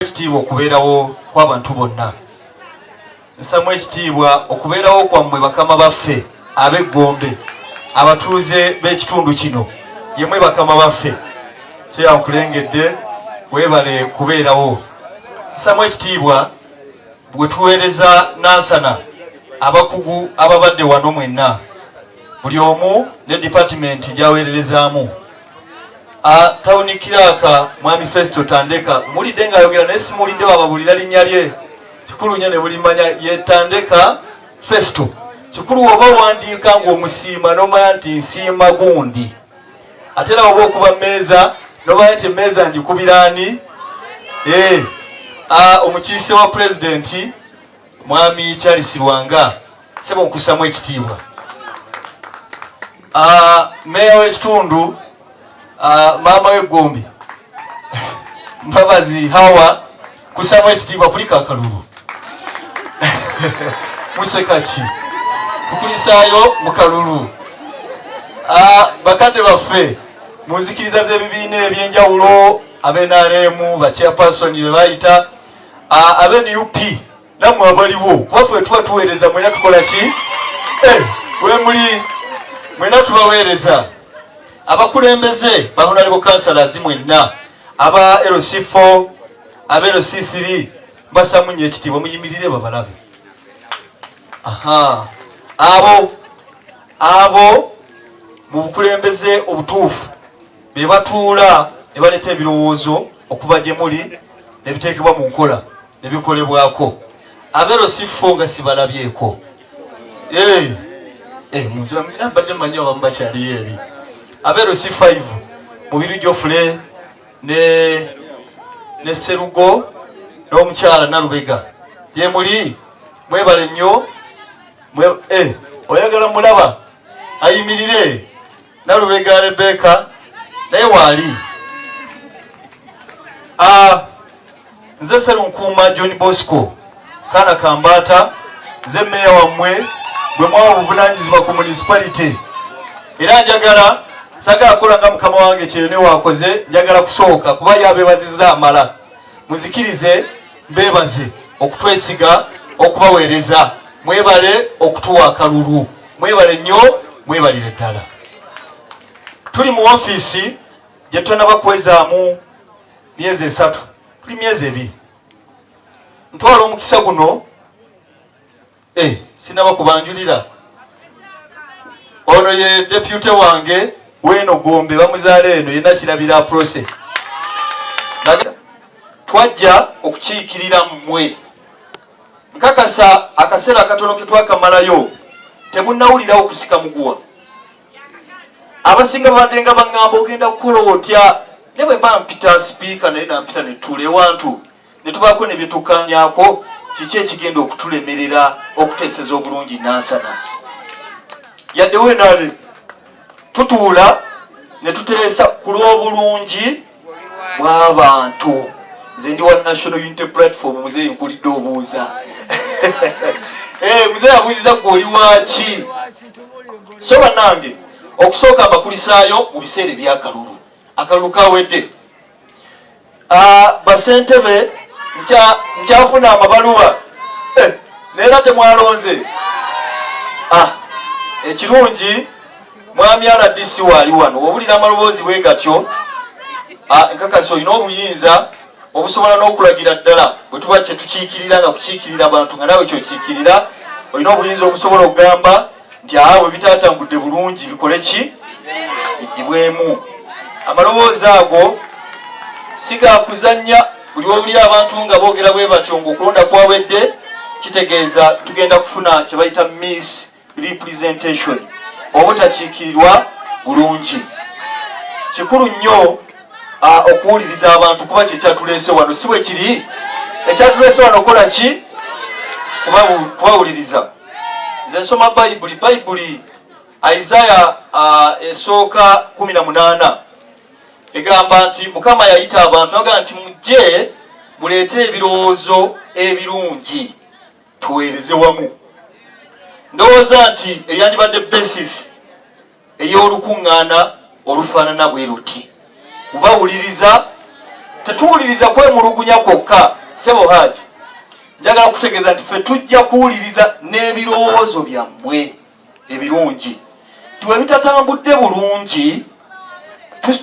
ekitiibwa okubeerawo kw'abantu bonna nsamu ekitiibwa okubeerawo kwammwe bakama baffe ab'eggombe abatuuze b'ekitundu kino yemwe bakama baffe kyeyankulengedde weebale kubeerawo nsamu ekitiibwa bwe tuweereza nansana abakugu ababadde wano mwenna buli omu ne dipatimenti gyaweererezaamu Ah, tawuni kiraka mwami Festo Tandeka mulidde ng'ayogera naye simuwulidde wababulira linnya lye kikulu nnyo ne bulimanya ye Tandeka Festo kikulu woba owandiika ng'omusiima n'omanya nti nsiima gundi ate era woba okuba mmeeza n'omanya nti emmeeza ngikubira ani ee eh, ah, omukiise wa pulezidenti mwami charles lwanga sebo nkusamu ekitiibwa ah, meeya w'ekitundu ah, maama w'eggombe mbabazi hawa kusamu ekitiibwa kulika akalulu musekaki kukulisaayo mu kalulu ah, bakadde baffe mu nzikiriza z'ebibiina eby'enjawulo abenaremu bachairperson bebayita abe nup namwe abaliwo kuba fe tuba tuweereza mwena tukola ki eh, wemuli mwena tubaweereza abakulembeze bahonalebo kansalazi mwenna aba lc4 aba lc3 mbasamunyo ekitiibwa muyimirire babalabe aha abo abo mu bukulembeze obutuufu be batuula ne baleeta ebirowoozo okuva gye muli ne biteekebwa mu nkola ne bikolebwako abero si fo nga sibalabyeko eh, eh, mbadde manyi abamu bakyaliyo eri abero si 5 mubiru gyofule ne ne serugo n'omukyala nalubega gye muli mwebale nnyo eh, oyagala mulaba ayimirire nalubega rebeka naye waali ah, nze serunkuuma john bosco kaana kambaata nze meeya wammwe bwe mwawa obuvunanyizibwa ku municipality era njagala sagala kola nga mukama wange kyeyone wakoze njagala kusooka kuba yabebaziza amala muzikirize mbebaze okutwesiga okubaweereza mwebale okutuwa akalulu mwebale nnyo mwebalire ddala tuli mu ofiisi gye tonaba kwezaamu myezi esatu tuli myezi ebiri ntwala omukisa guno Eh, sinaba kubanjulira ono ye depute wange weno gombe bamuzaala eno yena kirabira prose twajja okukiikirira mmwe nkakasa akaseera akatono ketwakamalayo temunawulirawo kusika muguwa abasinga babadde nga baŋŋamba ogenda kukola otya ne bwe bampita sipiika naye nampita netuula ewantu ne tubaako ne bye tukkaanyaako kiki ekigenda okutulemerera okuteeseza obulungi nansana yadde wenaale tutuula ne tuteesa ku lw'obulungi bw'abantu nze ndi wa national unity platform muzeeyi nkulidde obuuza eh, muzeeyi abuuziza gwe oli waaki so bannange okusooka mbakulisaayo mu biseera ebyakalulu akalulu kawedde Ah, basentebe nkyafuna amabaluwa eh, neera temwalonze ah, ekirungi mwami rdc waali wano wobulira amaloboozi bwe gatyo ah, enkakasi olina obuyinza obusobola n'okulagira ddala bwe tuba kyetukiikirira nga kukiikirira bantu nga nawe kyokiikirira olina obuyinza obusobola okugamba nti aa bwe bitaatambudde bulungi bikole ki biddibwemu amaloboozi ago si ga kuzannya buli wowulira abantu nga boogera bwe batyo ng'okulonda kwawedde kitegeeza tugenda kufuna kye bayita miss representation obutakiikirirwa bulungi kikulu nnyo okuwuliriza abantu kuba kyekyatuleese wano si bwe kiri ekyatuleese wano okukola ki kubawuliriza nze nsoma bayibuli bayibuli isaya uh, esooka 18 egamba nti mukama yayita abantu agamba nti mujje muleete ebirowoozo ebirungi tuweereze wamu ndowooza nti eyandibadde basis ey'olukuŋŋaana olufaanana bwe luti kubawuliriza tetuwuliriza kwemulugunya kwokka sebo haaji njagala kutegeeza nti fe tujja kuwuliriza n'ebirowoozo byammwe ebirungi nti bwe bitatambudde bulungi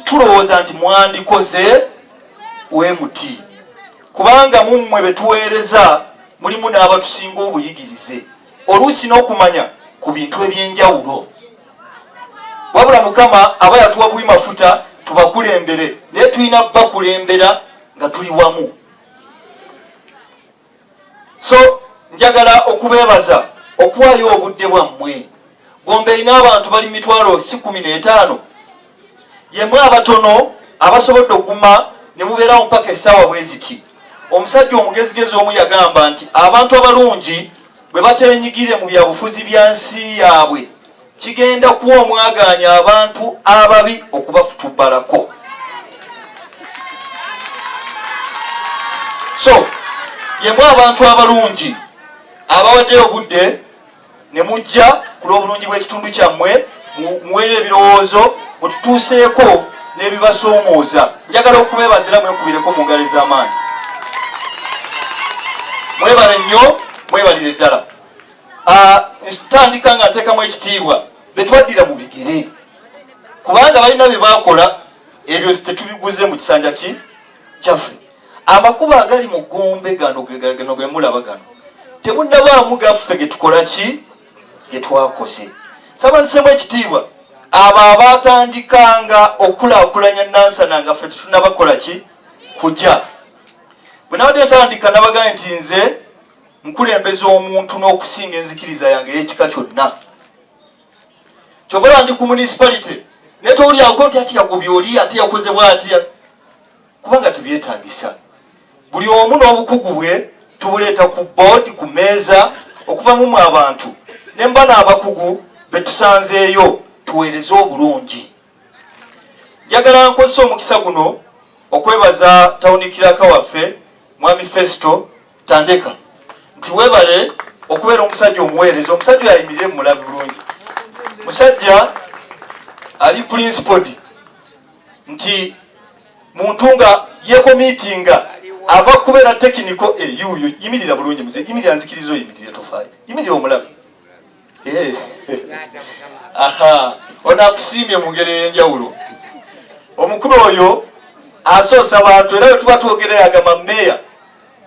tulowooza nti mwandikoze we muti kubanga mummwe betuweereza mulimu n'abatusinga obuyigirize oluusi n'okumanya ku bintu eby'enjawulo wabula mukama aba yatuwa buwi mafuta tubakulembere naye tulina bakulembera nga tuli wamu so njagala okubeebaza okuwaayo obudde bwammwe gombe erina abantu bali mitwalo si kumi n'etaano yemwe abatono abasobodde okuguma ne mubeerawo mpaka essaawa bwe ziti omusajja omugezigezi omu yagamba nti abantu abalungi bwe bateenyigire mu byabufuzi bya nsi yaabwe kigenda kuwa omwagaanya abantu ababi okubafutubbalako so yemwe abantu abalungi abawaddeyo obudde ne mujja ku lw'obulungi bw'ekitundu kyammwe muweeyo ebirowoozo mututuuseeko n'ebibasoomooza njagala okubebazira mwekubireko mu ngalo ez'amaanyi mwebale nnyo mwebalire ddala ah, ntandika nga nteekamu ekitiibwa betwaddira mu bigere kubanga balina bye bakola ebyo tetubiguze mu kisanja ki kyaffe amakubo agali mu gombe gano gano ge mulaba gano temunnabaamu gaffe ge tukola ki ge twakoze saba nsemu ekitiibwa abo abaatandikanga okulaakulanya nansana nga ffe tetunabakola ki kujja bwe nabadde ntandika nabagaye nti nze nkulembeza omuntu n'okusinga enzikiriza yange ey'ekika kyonna kyovala ndi ku municipality naye towulyako nti ati yakubyoli ate yakozebwa atya kubanga tebyetagisa buli omu n'obukugu bwe tubuleeta ku board ku meeza okuvamu mu abantu ne mba n'abakugu betusanzeeyo tuweereze obulungi njagala nkozesa omukisa guno okwebaza tawuni kiraka waffe mwami festo tandeka nti webale okubeera omusajja omuweereza omusajja yayimirire mumulabi bulungi musajja ali principodi nti muntu nga yekomitinga ava kubeera tekiniko eyuuyo eh, yimirira bulungi muze yimirira nzikiriza oyimirire tofaayo yimirira omulabe eh. aha ono akusiimye mu ngeri ey'enjawulo omukulu oyo asoosa bantu era wetuba twogerayo agamba meeya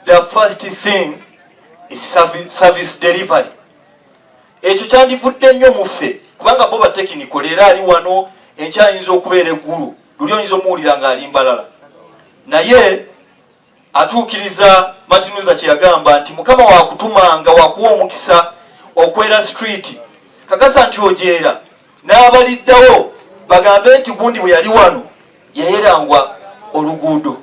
the first thing is service delivery ekyo kyandivudde nnyo mu ffe kubanga bo batekiniko leero ali wano enkyayinza okubeera eggulu luli oyinza omuwulira ng'ali mbalala naye atuukiriza martin luther kyeyagamba nti mukama wakutumanga wakuwa omukisa okwera street kakasa nti ojeera n'abaliddawo bagambe nti gundi bwe yali wano yayerangwa oluguudo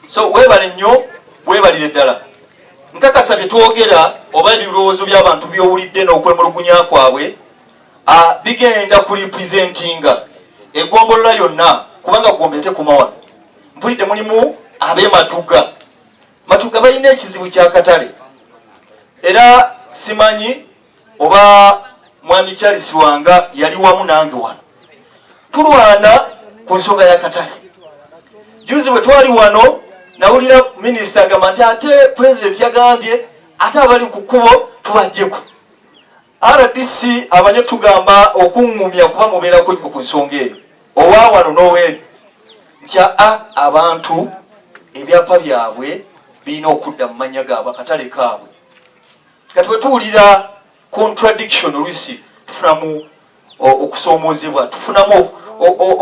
so webale nnyo webalire ddala nkakasa bye twogera oba ebirowoozo by'abantu by'owulidde n'okwemulugunya kwabwe bigenda ku representinga egombolola yonna kubanga gombe tekuma wano mpulidde mulimu ab'ematuga matuga balina ekizibu ky'akatale era simanyi oba mwami charles wanga yali wamu nange wano tulwana ku nsonga ya katale juzi bwe twali wano nawulira minisita agamba nti ate pulezidenti yagambye ate abali ku kkubo tubajjeko rdc abanye tugamba okuŋŋumya kuba mubeerako nnyo ku nsonga eyo owa wano n'oweeri nti aa abantu ebyapa byabwe birina okudda mu mannya gaabwe akatale kaabwe kati bwe tuwulira contradiction oluusi tufunamu okusoomoozebwa tufunamu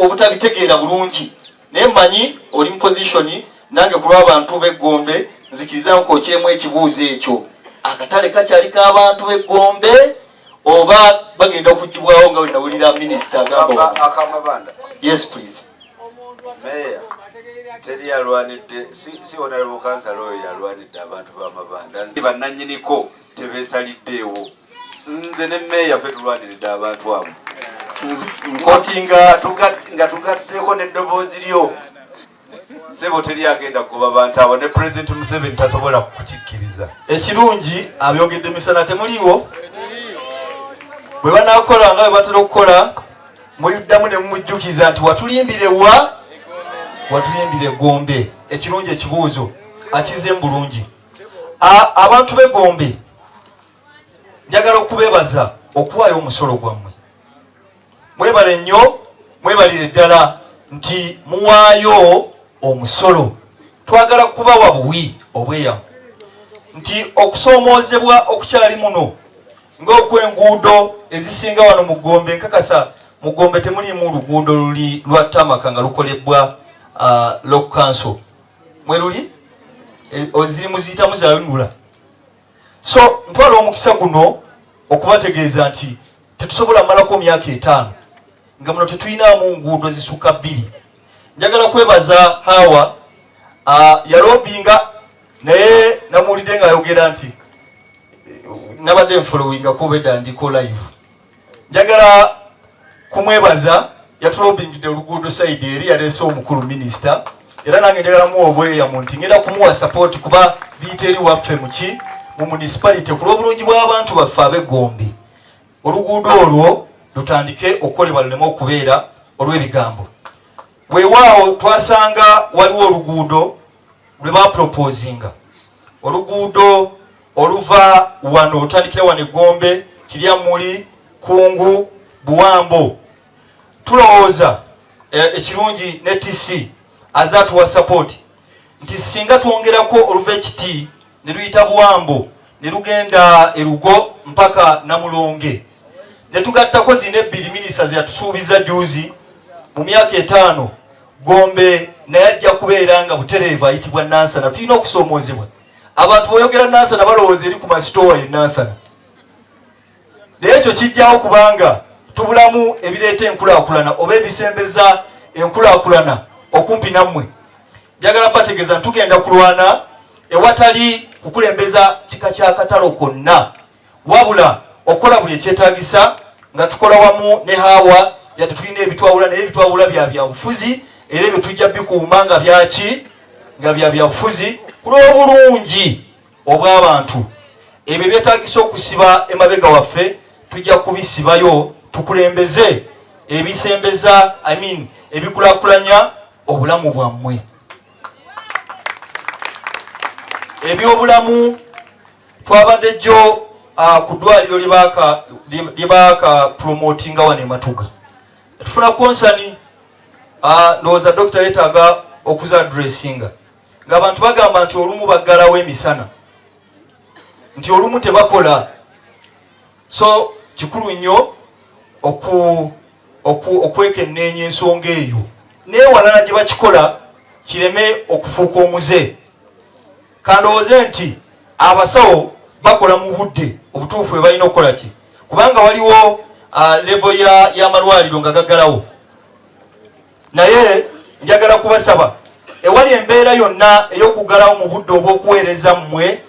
obutabitegeera bulungi naye manyi oli mu position nange ku lw'abantu b'eggombe nzikiriza nkokyemu ekibuuzo ekyo akatale kakyali k'abantu b'eggombe oba bagenda okugibwawo nga wenawulira minisita agamba yes please meeya teri yalwanidde si onalebo kansala oyo yalwanidde abantu bamabanda nzi bannanyiniko tebesaliddeewo nze ne meeya fe tulwaniridde abantu abo nkoti nga tugatseeko neddoboozi lyo sebo teri agenda kugoba bantu abo ne president museveni tasobola kukikkiriza ekirungi abyogedde misana temuliiwo bwe banakola nga bwe batera okukola muliddamu ne mumujjukiza nti watulimbira wa watulimbira egombe ekirungi ekibuuzo akize mu bulungi abantu begombe njagala okubebaza okuwaayo omusolo gwammwe mwebale nnyo mwebalire ddala nti muwaayo omusolo twagala kubawa buwi obweyamu nti okusoomoozebwa okukyali muno ng'okwenguudo ezisinga wano mu gombe nkakasa mu gombe temulimu luguudo luli lwa tamaka nga lukolebbwa uh, lok council mweruli e, oziri muziyitamu zayonula so ntwala omukisa guno okubategeeza nti tetusobola malako myaka etaano nga muno tetulinamu nguudo zisukka bbiri njagala kwebaza hawa uh, yalobinga naye namuwulidde ng'ayogera nti nabadde nfolowinga kuba edda ndiko live njagala kumwebaza yatulobingidde oluguudo saidi eri yaleese omukulu minisita era nange njagala muwa obweyamu nti ngenda kumuwa sapooti kuba biyita eri waffe muki mu munisipalite ku lw'obulungi bw'abantu baffe abegombe oluguudo olwo lutandike okukolebwa luleme okubeera olw'ebigambo weewaawo twasanga waliwo oluguudo lwe bapropozinga oluguudo oluva wano otandikira wano egombe kirya muli kungu buwambo tulowooza eh, ekirungi ne tc aze atuwa sapoti nti singa twongerako oluva ekiti ne luyita buwambo ne lugenda erugo mpaka namulonge ne tugattako zina ebbiri minisita zeyatusuubiza juuzi mu myaka etaano gombe naye ajja kubeera nga butereevu ayitibwa nansana tulina okusoomoozebwa abantu boyogera nansana balowooza eri ku masitoowa ye nansana naye ekyo kijjawo kubanga tubulamu ebireeta enkulaakulana oba ebisembeza enkulaakulana okumpi nammwe njagala bategeeza ntugenda kulwana ewatali kukulembeza kika kya katalo konna wabula okukola buli ekyetagisa nga tukola wamu ne hawa yadde tulina ebitwawula naye ebitwawula bya byabufuzi era ebyo tujja bikuuma nga byaki nga bya byabufuzi kulwobulungi obw'abantu ebyo ebyetagisa okusiba emabega waffe tujja kubisibayo tukulembeze ebisembeza I mean, ebikulakulanya obulamu bwammwe ebyobulamu twabadde jjo uh, ku ddwaliro lyebaaka promotinga wano ematuga tufuna konsani uh, ndowooza dokita yetaaga okuza adressinga ng'abantu bagamba nti olumu baggalawo emisana nti olumu tebakola so kikulu nnyo okwekenneenya ensonga eyo newalala gye bakikola kireme okufuuka omuze kandowooze nti abasawo bakola mu budde obutuufu bwe balina okukola ki kubanga waliwo levo y'amalwaliro nga gaggalawo naye njagala kubasaba ewali embeera yonna ey'okuggalawo mu budde obw'okuweereza mmwe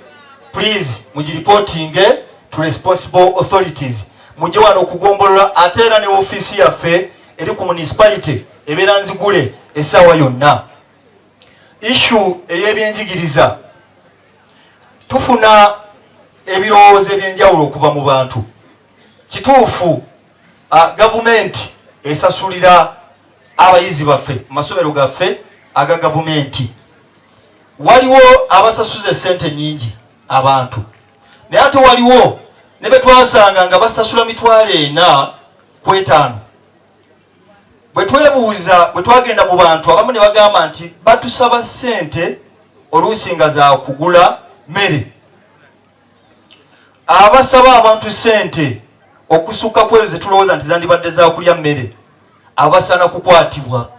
please mugiripootinge to responsible authorities mujje wano okugombolola ate era ne ofiisi yaffe eri ku municipality ebeera nzigule essaawa yonna ishu ey'ebyenjigiriza tufuna ebirowoozo eby'enjawulo okuva mu bantu kituufu Ah, gavumenti esasulira abayizi baffe mu masomero gaffe aga gavumenti waliwo abasasuza esente nyingi abantu naye ate waliwo ne betwasanga nga basasula mitwalo ena ku etaano bwe twebuuza bwe twagenda mu bantu abamu ne bagamba nti batusaba sente oluusi nga za kugula mmere abasaba abantu sente okusukka kwezo zetulowooza nti zandibadde zakulya mmere abasaana kukwatibwa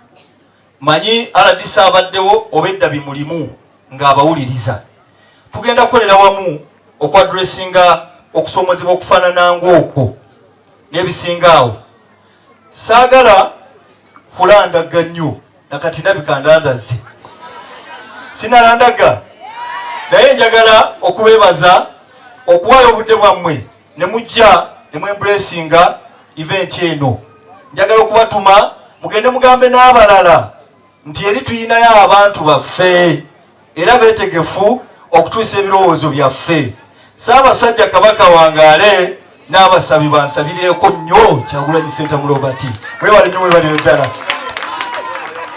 manyi aladisa abaddewo obedda bimulimu ng'abawuliriza tugenda kukolera wamu okwadressinga okusomozebwa okufaanana ng'okwo n'ebisinga awo saagala kulandagga nnyo nakati nabika ndandazze sinalandagga naye njagala okubeebaza okuwaayo obudde bwammwe ne mujja ne mwembulesinga eventi eno njagala okubatuma mugende mugambe n'abalala nti eri tuyinayo abantu baffe era beetegefu okutuusa ebirowoozo byaffe Ssaabasajja Kabaka wangaale n'abasabi bansabireeko nnyo Kyagulanyi Ssentamu Robert mwebale nnyo mwebale ddala